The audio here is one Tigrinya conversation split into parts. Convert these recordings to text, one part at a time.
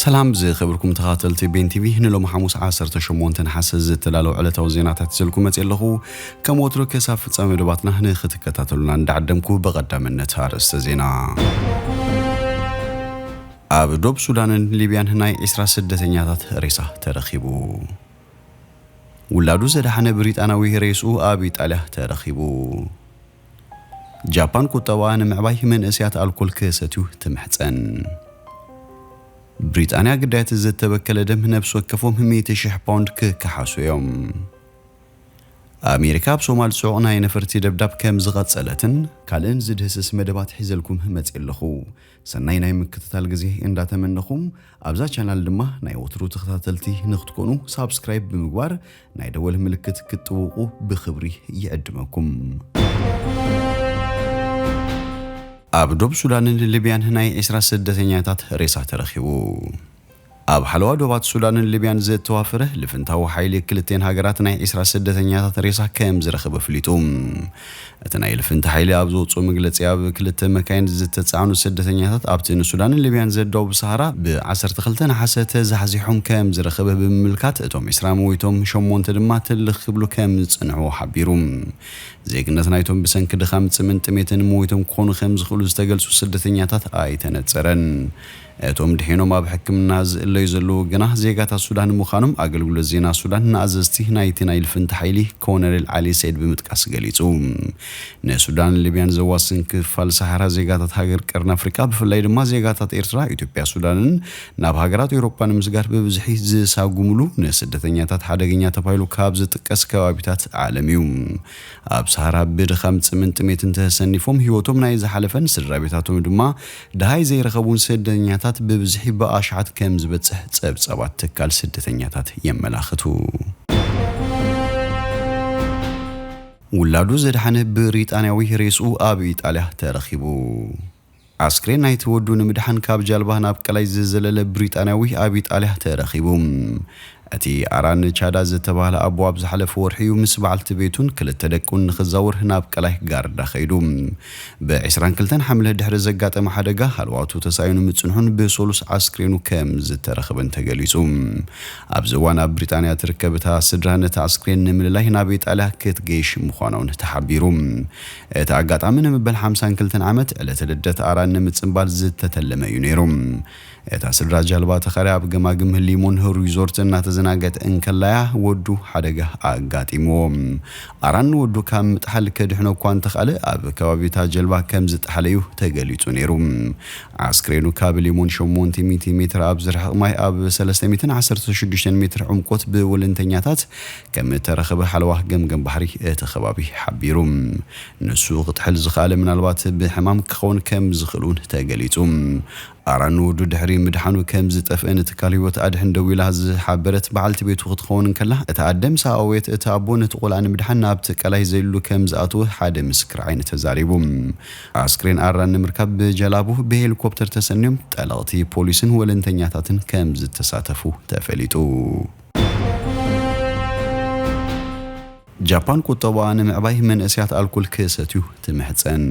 ሰላም ዝኸበርኩም ተኻተልቲ ቤን ቲቪ ንሎሚ ሓሙስ 18 ነሓሰ ዝተዳለዉ ዕለታዊ ዜናታት ይዘልኩ መፅእ ኣለኹ ከም ወትሩ ክሳብ ፍፃመ መደባትና ንክትከታተሉና እንዳዓደምኩ ብቐዳምነት ኣርእስተ ዜና ኣብ ዶብ ሱዳንን ሊብያን ናይ 20 ስደተኛታት ሬሳ ተረኺቡ ውላዱ ዘድሓነ ብሪጣንያዊ ሬስኡ ኣብ ኢጣልያ ተረኺቡ። ጃፓን ቁጠባኣ ንምዕባይ መንእሰያት ኣልኮል ክሰትዩ ትምሕጸን። ብሪጣንያ ግዳያት ዝተበከለ ደም ነብሲ ወከፎም ሚእቲ ሽሕ ፓውንድ ክከሓሱ እዮም። ኣሜሪካ ኣብ ሶማል ጽዑቕ ናይ ነፈርቲ ደብዳብ ከምዝቐጸለትን። ካልእን ዝድህስስ መደባት ሒዘልኩም መጽየ ኣለኹ። ሰናይ ናይ ምክትታል ግዜ እንዳ ተመነኹ ኣብዛ ቻናል ድማ ናይ ወትሩ ተኸታተልቲ ንክትኮኑ ሳብስክራይብ ብምግባር ናይ ደወል ምልክት ክትጥውቁ ብክብሪ ይዕድመኩም። ኣብ ዶብ ሱዳንን ልብያን ናይ ዒስራ ስደተኛታት ሬሳ ተረኺቡ። ኣብ ሓለዋ ዶባት ሱዳንን ሊብያን ዘተዋፍረ ልፍንታዊ ሓይሊ ክልቴን ሃገራት ናይ ዕስራ ስደተኛታት ሬሳ ከም ዝረኸበ ኣፍሊጡ። እቲ ናይ ልፍንቲ ሓይሊ ኣብ ዘውጽኦ መግለጺ ኣብ ክልተ መካይን ዝተጻዕኑ ስደተኛታት ኣብቲ ንሱዳንን ሊብያን ዘዳውብ ሰሃራ ብ ዓሰርተ ክልተ ነሓሰ ተዛሕዚሖም ከም ዝረኸበ ብምምልካት እቶም ዕስራ ሞይቶም ሸሞንተ ድማ ትልኽ ክብሉ ከም ዝጸንሑ ሓቢሩ። ዜግነት ናይቶም ብሰንኪ ድኻም ጽምን ጥሜትን ሞይቶም ክኾኑ ከም ዝኽእሉ ዝተገልጹ ስደተኛታት ኣይተነጸረን። እቶም ድሒኖም ኣብ ሕክምና ዝእለዩ ዘለዉ ግና ዜጋታት ሱዳን ምዃኖም ኣገልግሎት ዜና ሱዳን ንኣዘዝቲ ናይቲ ናይ ልፍንቲ ሓይሊ ኮነሬል ዓሊ ሰይድ ብምጥቃስ ገሊጹ። ንሱዳንን ሊብያን ዘዋስን ክፋል ሰሃራ ዜጋታት ሃገር ቀርኒ ኣፍሪቃ ብፍላይ ድማ ዜጋታት ኤርትራ፣ ኢትዮጵያ፣ ሱዳንን ናብ ሃገራት ኤውሮጳ ንምስጋር ብብዝሒ ዝሳጉምሉ ንስደተኛታት ሓደገኛ ተባሂሉ ካብ ዝጥቀስ ከባቢታት ዓለም እዩ። ኣብ ሰሃራ ብድኻም ጽምን ጥሜትን ተሰኒፎም ህይወቶም ናይ ዝሓለፈን ስድራቤታቶም ድማ ደሃይ ዘይረኸቡን ስደተኛታት ብብዝሒ ብኣሽሓት ከም ዝበጽሕ ጸብጻባት ትካል ስደተኛታት የመላኽቱ። ውላዱ ዘድሓነ ብሪጣንያዊ ሬስኡ ኣብ ኢጣልያ ተረኺቡ። ኣስክሬን ናይቲ ወዱ ንምድሓን ካብ ጃልባ ናብ ቀላይ ዝዘለለ ብሪጣንያዊ ኣብ ኢጣልያ ተረኺቡ። እቲ ኣራን ቻዳ ዝተባህለ ኣቦ ኣብ ዝሓለፈ ወርሒ'ዩ ምስ በዓልቲ ቤቱን ክልተ ደቁን ንኽዛወር ናብ ቀላይ ጋርዳ ከይዱ። ብ ዕስራን ክልተን ሓምለ ድሕሪ ዘጋጠመ ሓደጋ ሃለዋቱ ተሳኢኑ ምጽንሑን ብሰሉስ ኣስክሬኑ ከም ዝተረኽበን ተገሊጹ። ኣብዚ እዋን ኣብ ብሪጣንያ ትርከብ እታ ስድራ ነቲ ኣስክሬን ንምልላይ ናብ ኢጣልያ ክትገይሽ ምዃና'ውን ተሓቢሩ። እቲ ኣጋጣሚ ንመበል ሓምሳን ክልተን ዓመት ዕለተ ልደት ኣራን ንምጽንባል ዝተተለመ እዩ ነይሩ። እታ ስድራ ጃልባ ተኸርያ ኣብ ገማግም ህሊሙን ሪዞርትን እናተዘናገት እንከላ'ያ ወዱ ሓደጋ ኣጋጢምዎ። ኣራን ንወዱ ካብ ምጥሓል ከድሕኖ እኳ እንተኽኣለ ኣብ ከባቢ እታ ጀልባ ከም ዝጠሓለ'ዩ ተገሊጹ ነይሩ። ኣስክሬኑ ካብ ሊሙን ሸሞንተ ሚእቲ ሜትር ኣብ ዝርሕቕ ማይ ኣብ ሰለስተ ሚእትን ዓሰርተ ሽዱሽተን ሜትር ዕምቆት ብወለንተኛታት ከምእተረኽበ ሓለዋ ገምገም ባሕሪ እቲ ከባቢ ሓቢሩ። ንሱ ክጥሕል ዝኸኣለ ምናልባት ብሕማም ክኸውን ከም ዝኽእል'ውን ተገሊጹ። ኣራን ንወዱ ድሕሪ ምድሓኑ ከም ዝጠፍኤ ንትካል ህይወት ኣድሕን ደዊላ ዝሓበረት በዓልቲ ቤቱ ክትኸውን እንከላ፣ እታ ኣደ ምስ ኣእወየት እቲ ኣቦ ነቲ ቆልዓ ንምድሓን ናብቲ ቀላይ ዘሊሉ ከም ዝኣተወ ሓደ ምስክር ዓይኒ ተዛሪቡ። ኣስክሬን ኣራን ንምርካብ ብጀላቡ ብሄሊኮፕተር ተሰንዮም ጠለቕቲ ፖሊስን ወለንተኛታትን ከም ዝተሳተፉ ተፈሊጡ። ጃፓን ቁጠባኣ ንምዕባይ መንእሰያት ኣልኮል ክሰትዩ ትምሕጸን።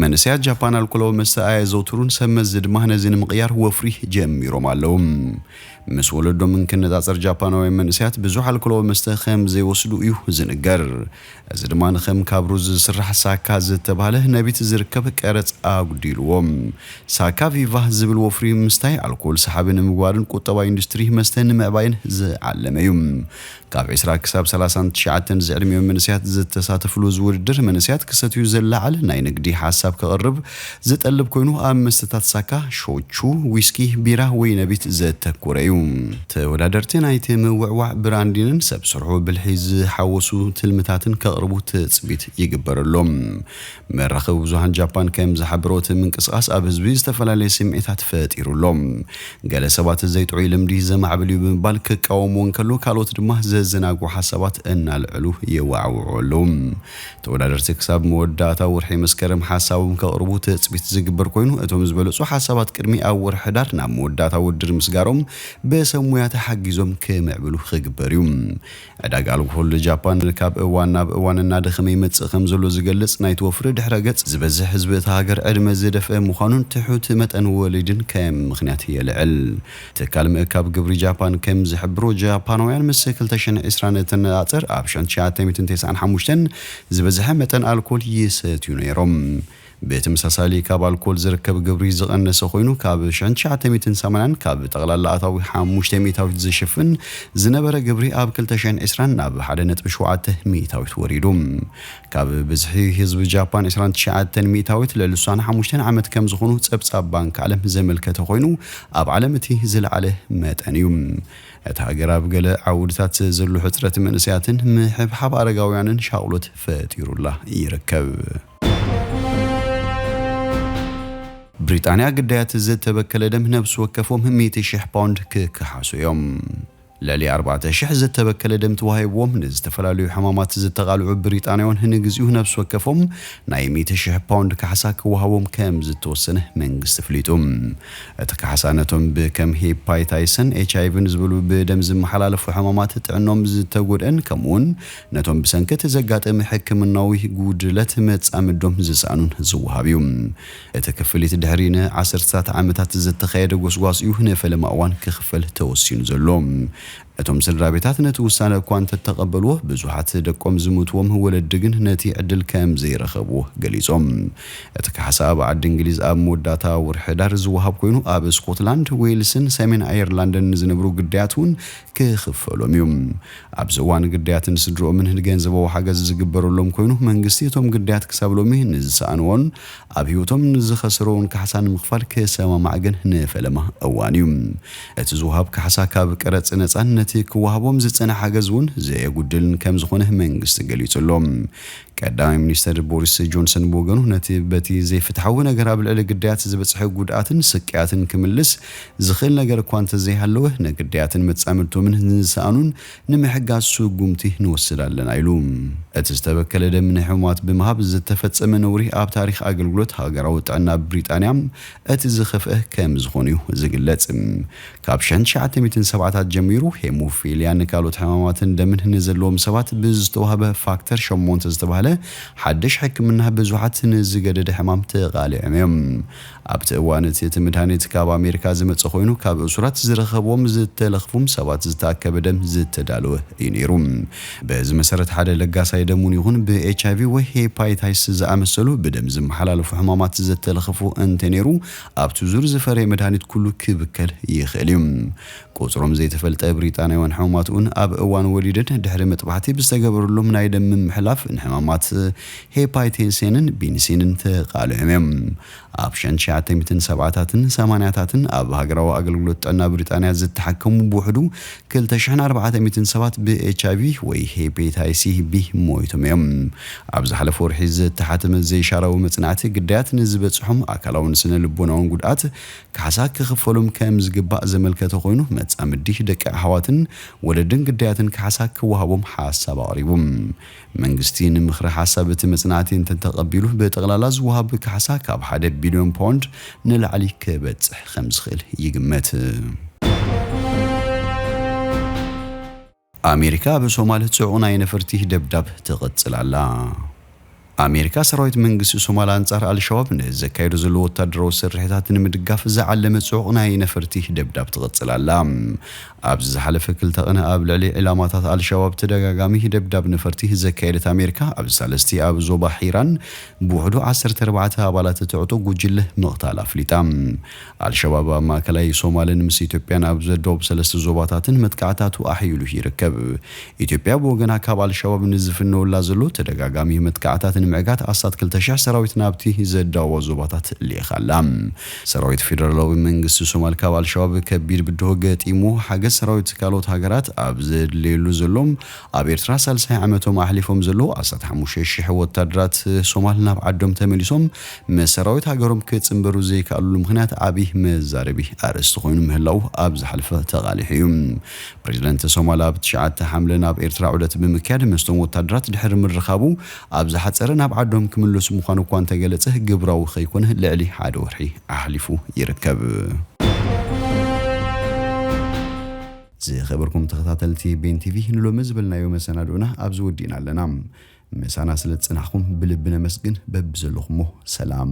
መንእሰያት ጃፓን ኣልኮላዊ መስተ ኣየዘውትሩን፣ ሰብ መዚ ድማ ነዚ ንምቕያር ወፍሪ ጀሚሮም ኣለዉ። ምስ ወለዶም እንክነጻጸር ጃፓናውያን መንእሰያት ብዙሕ ኣልኮላዊ መስተ ከም ዘይወስዱ እዩ ዝንገር። እዚ ድማ ንከም ካብ ሩዝ ዝስራሕ ሳካ ዝተባህለ ነቢት ዝርከብ ቀረጽ ኣጉዲልዎ። ሳካ ቪቫ ዝብል ወፍሪ ምስታይ ኣልኮል ሰሓቢ ንምግባርን ቁጠባ ኢንዱስትሪ መስተ ንምዕባይን ዝዓለመ እዩ። ካብ ዕስራ ክሳብ ሰላሳን ትሽዓተን ዝዕድሚኦም መንእሰያት ዝተሳተፍሉ እዚ ውድድር መንእሰያት ክሰትዩ ዘላዓል ናይ ንግዲ ሓሳብ ከቕርብ ዝጠልብ ኮይኑ ኣብ መስተታት ሳካ፣ ሾቹ፣ ዊስኪ፣ ቢራ፣ ወይነ ቤት ዘተኩረ እዩ። ተወዳደርቲ ናይቲ ምውዕዋዕ ብራንዲንን ሰብ ሰርሖ ብልሒ ዝሓወሱ ትልምታትን ከቕርቡ ትጽቢት ይግበረሎም። መራኸቢ ብዙሃን ጃፓን ከም ዝሓበሮ እቲ ምንቅስቓስ ኣብ ህዝቢ ዝተፈላለየ ስምዒታት ፈጢሩ ኣሎ። ገለ ሰባት ዘይጥዑይ ልምዲ ዘማዕብል እዩ ብምባል ክቃወምዎ እንከሎ ካልኦት ድማ ዘዘናግዑ ሓሳባት እናልዐሉ የወዓውዑ ኣለዉ። ተወዳደርቲ ክሳብ መወዳእታ ወርሒ መስከረም ሓሳቦም ከቕርቡ ትፅቢት ዝግበር ኮይኑ እቶም ዝበለፁ ሓሳባት ቅድሚ ኣብ ወርሒ ሕዳር ናብ መወዳእታ ውድድር ምስጋሮም ብሰብ ሙያ ተሓጊዞም ክምዕብሉ ክግበር እዩ። ዕዳጋ ኣልኮሆል ጃፓን ካብ እዋን ናብ እዋን እናደኸመ ይመፅእ ከምዘሎ ዝገልፅ ናይቲ ወፍሪ ድሕረ ገፅ ዝበዝሕ ህዝቢ እታ ሃገር ዕድመ ዝደፍአ ምዃኑን ትሑት መጠን ወሊድን ከም ምኽንያት የልዕል። ትካል ምእካብ ግብሪ ጃፓን ከም ዝሕብሮ፣ ጃፓናውያን ምስ ክልተ ሽሕን ዕስራን እተነጻጽር ኣብ ሽሕን ትሽዓተ ሚእትን ተስዓን ሓሙሽተን ዝበዝሐ መጠን ኣልኮል ይሰትዩ ነይሮም። ብተመሳሳሊ ካብ ኣልኮል ዝርከብ ግብሪ ዝቐነሰ ኮይኑ ካብ ሽሕን ትሽዓተ ሚእትን ሰማንያን ካብ ጠቕላላ ኣታዊ ሓሙሽተ ሚእታዊት ዝሽፍን ዝነበረ ግብሪ ኣብ ክልተ ሽሕን ዕስራን ናብ ሓደ ነጥቢ ሸውዓተ ሚእታዊት ወሪዱ። ካብ ብዝሒ ህዝቢ ጃፓን ዕስራን ትሽዓተን ሚእታዊት ለልሳን ሓሙሽተን ዓመት ከም ዝኹኑ ጸብጻብ ባንክ ዓለም ዘመልከተ ኮይኑ ኣብ ዓለም እቲ ዝለዓለ መጠን እዩ። እታ ሃገር ኣብ ገለ ዓውድታት ዘሎ ሕጽረት መንእሰያትን ምሕብሓብ ኣረጋውያንን ሻቕሎት ፈጢሩላ ይርከብ። ብሪጣንያ ግዳያት ዝተበከለ ደም ነብሲ ወከፎም ሚእቲ ሽሕ ፓውንድ ክከሓሱ እዮም። ልዕሊ ኣርባዕተ ሽሕ ዝተበከለ ደም ተዋሂብዎም ንዝተፈላለዩ ሕማማት ዝተቓልዑ ብሪጣንያውን ንግዚኡ ነብሲ ወከፎም ናይ ሚእቲ ሽሕ ፓውንድ ካሕሳ ክወሃቦም ከምዝተወሰነ መንግስቲ ኣፍሊጡ። እቲ ካሕሳ ነቶም ብከም ሄፓይታይሰን ኤችኣይቪን ዝበሉ ብደም ዝመሓላለፉ ሕማማት ጥዕንኦም ዝተጎድእን ከምኡውን ነቶም ብሰንኪ እቲ ዘጋጠመ ሕክምናዊ ጉድለት መጻምዶም ዝሰኣኑን ዝወሃብ እዩ። እቲ ክፍሊት ድሕሪ ን ዓሰርተታት ዓመታት ዝተኻየደ ጎስጓስ እዩ ንፈለማ እዋን ክኽፈል ተወሲኑ ዘሎ። እቶም ስድራቤታት ነቲ ውሳነ እኳ እንተተቐበልዎ፣ ብዙሓት ደቆም ዝሞትዎም ወለዲ ግን ነቲ ዕድል ከም ዘይረኸብዎ ገሊጾም። እቲ ካሕሳ ኣብ ዓዲ እንግሊዝ ኣብ መወዳእታ ወርሒ ሕዳር ዝወሃብ ኮይኑ፣ ኣብ ስኮትላንድ፣ ዌልስን ሰሜን ኣየርላንድን ንዝነብሩ ግዳያት እውን ክኽፈሎም እዩ። ኣብዚ እዋን ግዳያት ንስድርኦምን ንገንዘባዊ ሓገዝ ዝግበረሎም ኮይኑ መንግስቲ እቶም ግዳያት ክሳብ ሎሚ ንዝሰኣንዎን ኣብ ህይወቶም ንዝኸሰርዎን ካሕሳ ንምኽፋል ክሰማማዕ ግን ንፈለማ እዋን እዩ። እቲ ዝወሃብ ካሕሳ ካብ ቀረፅ ነፃን ነቲ ክወሃቦም ዝፀንሐ ሓገዝ እውን ዘየጉድልን ከምዝኾነ መንግስቲ ገሊፁ ኣሎ። ቀዳማይ ሚኒስትር ቦሪስ ጆንሰን ብወገኑ ነቲ በቲ ዘይፍትሓዊ ነገር ኣብ ልዕሊ ግዳያት ዝበፅሐ ጉድኣትን ስቅያትን ክምልስ ዝኽእል ነገር እኳ እንተዘይሃለወ፣ ንግዳያትን መጻምድቶምን ንዝሰኣኑን ንምሕጋዝ ስጉምቲ ንወስድ ኣለና ኢሉ። እቲ ዝተበከለ ደም ንሕሙማት ብምሃብ ዝተፈጸመ ነውሪ ኣብ ታሪኽ ኣገልግሎት ሃገራዊ ጥዕና ብሪጣንያ እቲ ዝኸፍኤ ከምዝኾነ'ዩ ዝግለጽ። ካብ ሸን ትሽዓተ ሚእትን ሰብዓታት ጀሚሩ ሄሞፊልያን ካልኦት ሕማማትን ደምን ንዘለዎም ሰባት ብዝተዋህበ ፋክተር ሸሞንተ ዝተባህለ ሓድሽ ሕክምና ብዙሓት ንዝገደደ ሕማም ተቓሊዖም'ዮም። ኣብቲ እዋን እቲ እቲ ምድሃኒት ካብ ኣሜሪካ ዝመጸ ኮይኑ ካብ እሱራት ዝረኸብዎም ዝተለኽፉም ሰባት ዝተኣከበ ደም ዝተዳለወ እዩ ነይሩ። በዚ መሰረት ሓደ ለጋሳይ ደም ውን ይኹን ብኤችኣይቪ ወይ ሄፓይታይስ ዝኣመሰሉ ብደም ዝመሓላለፉ ሕማማት ዘተለኽፉ እንተነይሩ ኣብቲ ዙር ዝፈረየ መድሃኒት ኩሉ ክብከል ይኽእል እዩ። ቁጽሮም ዘይተፈልጠ ብሪጣንያውያን ሕሙማት ውን ኣብ እዋን ወሊደን ድሕሪ መጥባሕቲ ብዝተገበረሎም ናይ ደም ምምሕላፍ ንሕማማት ሄፓይቴሴንን ቢንሲንን ተቓሊዖም እዮም። ኣብ ሸን ትሽዓተ ሚእትን ሰብዓታትን ሰማንያታትን ኣብ ሃገራዊ ኣገልግሎት ጥዕና ብሪጣንያ ዝተሓከሙ ብውሕዱ ክልተ ሽሕን ኣርባዕተ ሚእትን ሰባት ብኤችኣይቪ ወይ ሄፔታይሲ ቢ ሞይቶም እዮም። ኣብ ዝሓለፈ ወርሒ ዝተሓተመ ዘይሻራዊ መጽናዕቲ ግዳያት ንዝበጽሖም ኣካላውን ስነ ልቦናውን ጉድኣት ካሕሳ ክኽፈሎም ከም ዝግባእ ዘመልከተ ኮይኑ መጻምዲ ደቂ ኣሕዋትን ወለድን ግዳያትን ካሕሳ ክወሃቦም ሓሳብ ኣቕሪቡ መንግስቲ ንምኽሪ ሓሳብ እቲ መጽናዕቲ እንተተቐቢሉ ብጠቕላላ ዝወሃብ ካሕሳ ካብ ሓደ ቢልዮን ፓውንድ ንላዕሊ ክበጽሕ ከምዝኽእል ይግመት። ኣሜሪካ ኣብ ሶማል ጽዑቕ ናይ ነፈርቲ ደብዳብ ትቕጽል ኣላ። ኣሜሪካ ሰራዊት መንግስቲ ሶማል ኣንጻር ኣልሸባብ ንዘካይዶ ዘሎ ወታደራዊ ስርሒታት ንምድጋፍ ዝዓለመ ጽዑቕ ናይ ነፈርቲ ደብዳብ ትቕጽል ኣላ። ኣብዚ ዝሓለፈ ክልተ ቅነ ኣብ ልዕሊ ዒላማታት ኣልሸባብ ተደጋጋሚ ደብዳብ ነፈርቲ ዘካየደት ኣሜሪካ ኣብዚ ሳልስቲ ኣብ ዞባ ሒራን ብውሕዱ ዓሰርተ ኣርባዕተ ኣባላት እቲ ዕጡቕ ጉጅለ ምቕታላ ኣፍሊጣ። ኣልሸባብ ኣብ ማእከላይ ሶማልን ምስ ኢትዮጵያን ኣብ ዶብ ሰለስተ ዞባታትን መጥቃዕታቱ ኣሕይሉ ይርከብ። ኢትዮጵያ ብወገና ካብ ኣልሸባብ ንዝፍነወላ ዘሎ ተደጋጋሚ መጥቃዕታት ንምዕጋት ኣስታት ክልተ ሽሕ ሰራዊት ናብቲ ዘዳውባ ዞባታት ልኢኻ ኣላ። ሰራዊት ፌደራላዊ መንግስቲ ሶማል ካብ ኣልሸባብ ከቢድ ብድሆ ገጢሙ ሓገዝ ሰራዊት ካልኦት ሃገራት ኣብ ዘድለየሉ ዘሎ ኣብ ኤርትራ ሳልሳይ ዓመቶም ኣሕሊፎም ዘለዉ ዓሰርተ ሓሙሽተ ሽሕ ወታደራት ሶማል ናብ ዓዶም ተመሊሶም ምስ ሰራዊት ሃገሮም ክጽንበሩ ዘይከኣልሉ ምኽንያት ዓቢ መዛረቢ ኣርእስቲ ኮይኑ ምህላዉ ኣብ ዝሓለፈ ተቓሊሑ እዩ። ፕረዚደንት ሶማል ኣብ ትሽዓተ ሓምለ ናብ ኤርትራ ዑደት ብምክያድ ምስቶም ወታደራት ድሕሪ ምርኻቡ ኣብ ዝሓጸረ ናብ ዓዶም ክምለሱ ምዃኑ እኳ እንተገለጸ ግብራዊ ከይኮነ ልዕሊ ሓደ ወርሒ ኣሕሊፉ ይርከብ። ዝኸበርኩም ተኸታተልቲ ቤን ቲቪ ንሎሚ ዝበልናዮ መሰናድኡና ኣብዚ ወዲእና ኣለና። ምሳና ስለ ዝጸናሕኩም ብልቢ ነመስግን። በብዘለኹሞ ሰላም።